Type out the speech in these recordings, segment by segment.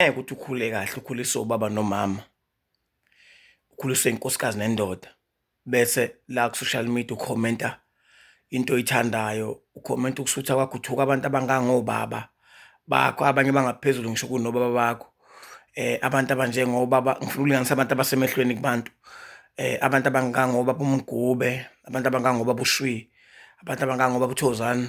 ngeke ukuthi ukhule kahle ukhuliswe ubaba nomama ukhuliswe inkosikazi nendoda bese la ku-social media ukhomenta into oyithandayo ukhomenta ukusutha kwakho uthuka abantu abangangobaba bakho abanye bangaphezulu ngisho kunobaba bakho eh abantu abanjengobaba ngifuna ukulinganisa abantu abasemehlweni kubantu eh abantu abangangobaba umgube abantu abangangobaba ushwi abantu abangangobaba uthozani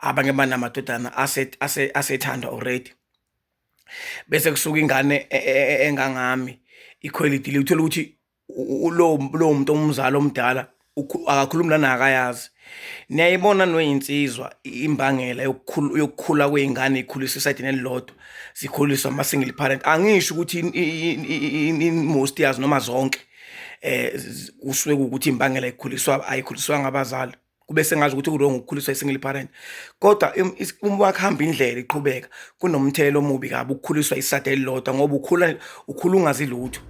abanye banamadodana asethandwa already bese kusuka ingane e, e, e, engangami ikhwelidi lithola ukuthi lowo muntu omzali omdala akakhulumi lana akayazi niyayibona noyinsizwa imbangela yokukhula kwey'ngane ikhuliswa esayidini elilodwa zikhuliswa ama-single parent angisho ukuthi most yazi noma zonke um kusuke kuwukuthi imbangela ikhuliswa ayikhuliswanga abazali kube sengazi ukuthi uwrong ukukhuliswa i-single parent kodwa uma wakuhamba indlela iqhubeka kunomthelela omubi kabi ukukhuliswa isada elilodwa ngoba ukhula ukhula ungazi lutho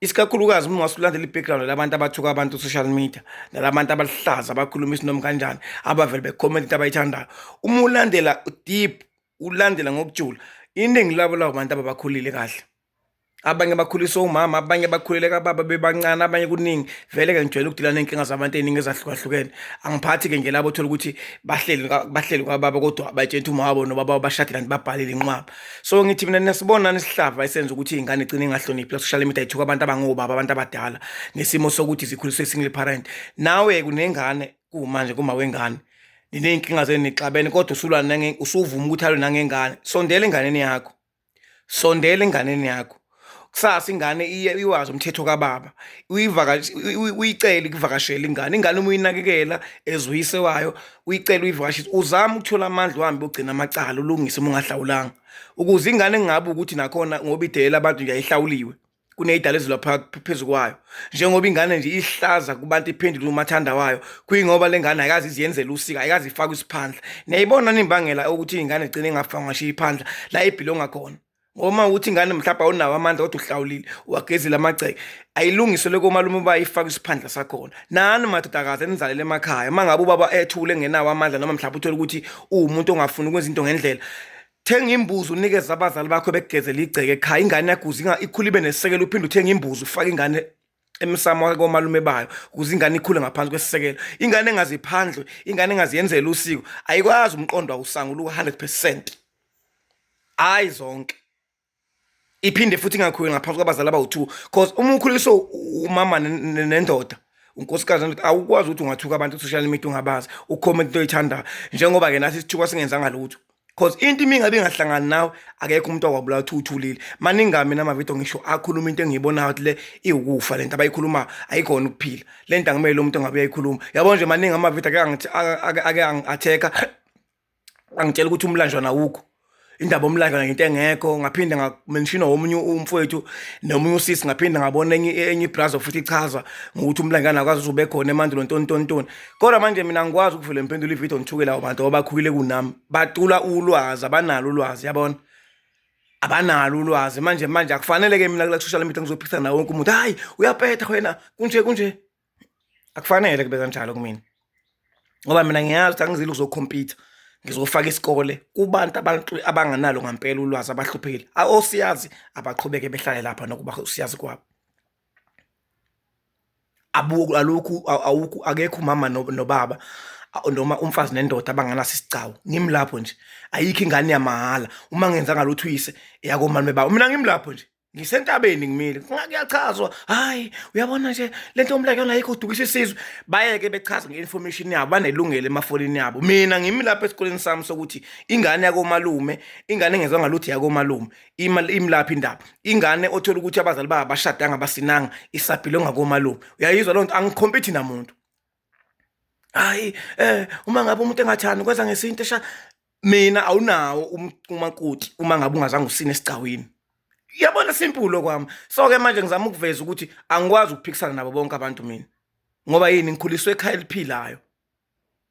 isikakhulukazi uma wasulandela i-background labantu abathuka abantu social media nalabantu abaluhlaza abakhuluma isinom kanjani abavele bekhomenta into abayithandayo uma ulandela deep ulandela ngokujula iningi labo labo bantu ababakhulile kahle abanye bakhuliswe umama abanye bakhulele kababa bebancane abanye kuningi vele ke ngijwayele ukudila ney'nkinga zabantu ey'ningi ezahlukahlukene angiphathi-ke nje labo othola ukuthi bahleli bahleli kwababa kodwa abatshela ukuthi umawabo nobaba babashadile kanti babhalile inqwaba so ngithi mina nesibona nesihlava esenza ukuthi iy'ngane igcine ingahloniphi la-social media ithuka abantu abangobaba abantu abadala nesimo sokuthi zikhuliswe single parent nawe kunengane kumanje kuma wengane niney'nkinga zenu nixabene kodwa usulwa usuvuma ukuthi alwe nangengane sondela enganeni yakho sondela enganeni yakho kusasa ingane iye iwazi umthetho kababa uyicele ukuvakashela ingane ingane uma uyinakekela ezuyise wayo uyicele uyivakashise uzama ukuthola amandla uhambe ugcina amacala ulungise uma ungahlawulanga ukuze ingane kungabi ukuthi nakhona ngoba idela abantu nje ayihlawuliwe kuneyidala ezilwa phezu kwayo njengoba ingane nje ihlaza kubantu iphendule umathanda wayo kuyingoba le ngane ayikazi iziyenzela usika ayikazi ifaka isiphandla niyayibona nimbangela ukuthi ingane igcine ingafanga ngasho iphandla la ibhilonga khona ngoma ukuthi ingane mhlawumbe awunawo amandla kodwa uhlawulile uwagezile amagceke ayilungiswe loko malume uba ifaka isiphandla sakhona nani madodakazi enizalele emakhaya uma ngabe ubaba ethule ngenawo amandla noma mhlawumbe uthole ukuthi uwumuntu ongafuni ukwenza into ngendlela Thenga imbuzi unikeze abazali bakho bekugezela igceke ekhaya ingane yaguza inga- ikhule ibe nesekelo uphinde uthenge imbuzi ufake ingane emsamo wake komalume bayo ukuze ingane ikhule ngaphansi kwesisekelo ingane engaziphandle ingane engaziyenzela usiko ayikwazi umqondo awusangula u-100 percent hhayi zonke iphinde futhi ingakhuli ngaphansi kwabazali abawu-two cause uma ukhuliswe umama nendoda unkosikazi nendoda awukwazi ukuthi ungathuka abantu ku-social media ungabazi ukhomenta into oyithandayo njengoba-ke nathi isithuka singenzanga lutho cause into imi ingabe ingahlangani nawe akekho umuntu okwabulawa ukuthi uthulile maningami namavidiyo ngisho akhuluma into engiyibonayo ukuthi le iwukufa le nto abayikhulumayo ayikhona ukuphila le nto angimayele umuntu ongabe uyayikhuluma yabo nje maningi amavidiyo ake angi-atheka angitshela ukuthi umlanjwana awukho indaba omlanjwana ngento engekho ngaphinde ngamenshina womunye umfowethu nomunye usisi ngaphinde ngabona enye enye ibrazo futhi ichaza ngokuthi umlanjwana akwazi uzube khona emandulo ntontontoni kodwa manje mina ngikwazi ukuvele ngiphendule ividiyo ngithukele abo bantu abakhulile kunami batula ulwazi abanalo ulwazi yabona abanalo ulwazi manje manje akufanele-ke mina kula social media ngizophikisana nawo wonke umuntu hhayi uyapetha wena kunje kunje akufanele kube kanjalo kumina ngoba mina ngiyazi ukuthi angizile ukuzokhompyutha ngizofaka isikole kubantu abantu abanganalo ngampela ulwazi abahluphekile osiyazi abaqhubeke behlale lapha nokuba usiyazi kwabo abuku alokhu awukho akekho umama nobaba noma umfazi nendoda abanganaso isigcawu ngimi lapho nje ayikho ingane yamahhala uma ngenza ngalutho uyise eyakomani bebaba mina ngimi lapho nje ngisentabeni ngimile kuyachazwa hayi uyabona nje lento omlake yona ayikho udukisa isizwe bayeke bechaza nge-information yabo banelungelo emafonini yabo mina ngimi lapha esikoleni sami sokuthi ingane yakomalume ingane engezwa ngaluthi yakomalume imlapha indaba ingane othola ukuthi abazali babo bashadanga basinanga isaphile ngakomalume uyayizwa loo nto angikhompithi namuntu hayi eh uma ngabe umuntu engathandi kwenza ngesintu esha mina awunawo umakoti uma ngabe ungazange usine esigcawini yabona simple lokwami so ke manje ngizama ukuveza ukuthi angikwazi ukuphikisana nabo bonke abantu mina ngoba yini ngikhuliswe ekhaya eliphilayo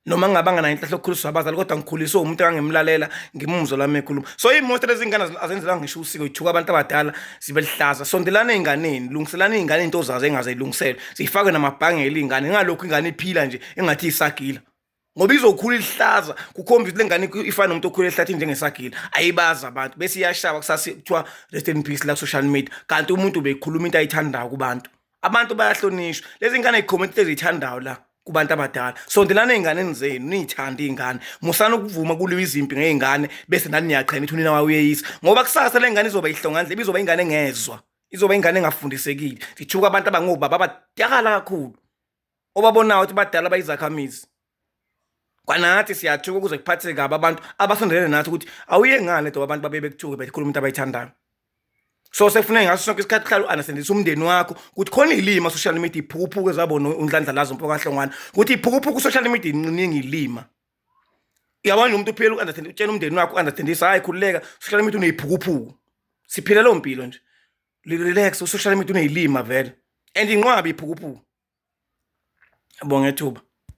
noma ngingabanga nayo inhlahla okukhuliswa abazali kodwa ngikhuliswe umuntu engangimlalela ngimumzo lami ekhuluma so imoto lezingane azenzela ngisho usiko ithuka abantu abadala zibe lihlaza sondelana ey'nganeni lungiselana iy'ngane into zazo engaze ilungiselwe ziyifake namabhangela iy'ngane ingalokhu ingane iphila nje engathi isagila ngoba izokhula ilihlaza kukhomba ukuthi le ngane ifana nomuntu okhula ehlathini njengesagila ayibazi abantu bese iyashaba kusase kuthiwa rest in peace la ku-social media kanti umuntu beyikhuluma into ayithandayo kubantu abantu bayahlonishwa lezi ngane zikhomenti ezithandayo la kubantu abadala sondelana ey'nganeni zenu niyithande iy'ngane musana ukuvuma kuliwa izimpi ngey'ngane bese nani niyaqhena ithi unina wayo uyeyisa ngoba kusasa le ngane izoba ihlongandle ibizoba ingane engezwa izoba ingane engafundisekile zithuka abantu abangobaba abatyakala kakhulu obabonayo ukuthi badala bayizakhamizi kwanathi siyathuka ukuze kuphatheke kabi abantu abasondelene nathi ukuthi awuye ngani edoba abantu babe bekuthuke bekhuluma into abayithandayo so sefuna ngaso sonke isikhathi uhlale u-anasendisa umndeni wakho ukuthi khona ilima social media iphukuphuku ezabona unhlanhla lazo mpokahlongwana ukuthi iphukuphuku social media inqiningi ilima uyabona nje umuntu uphela u-understand utshela umndeni wakho u-understandisa hhayi khululeka social media uneyiphukuphuku siphile leyo mpilo nje Relax usocial media uneyilima vele and inqwabi iphukuphuku. Ngiyabonga ithuba.